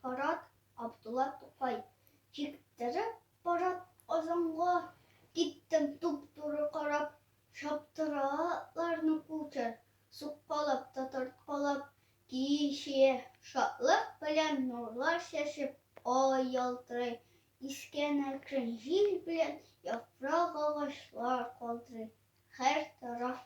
Парад, Абдулла Тукай. Чиктереп парад Казанга киттем туп-туры карап, Чаптыра атларны кучер, суккалап та тарткалап, Кичә шатлык белән нурлар чәчеп, ай ялтырый, Искән әкрен җил белән яфрак агачлар калтырый, Һәр тараф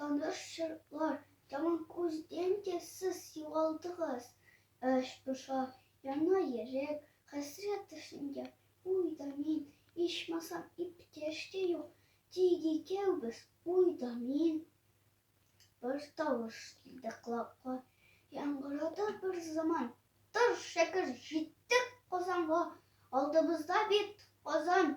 Таныш чырлар, тагын күздән дә сез югалдыгыз. Эч поша, яна йөрәк, хәсрәт төсендә уй да мин, ичмасам иптәш тә юк, тик икәүбез уй да мин. Бер тавыш килде колакка, яңгырады бер заман. Тор, шәкер, җиттек Казанга, алдыбызда бит Казан,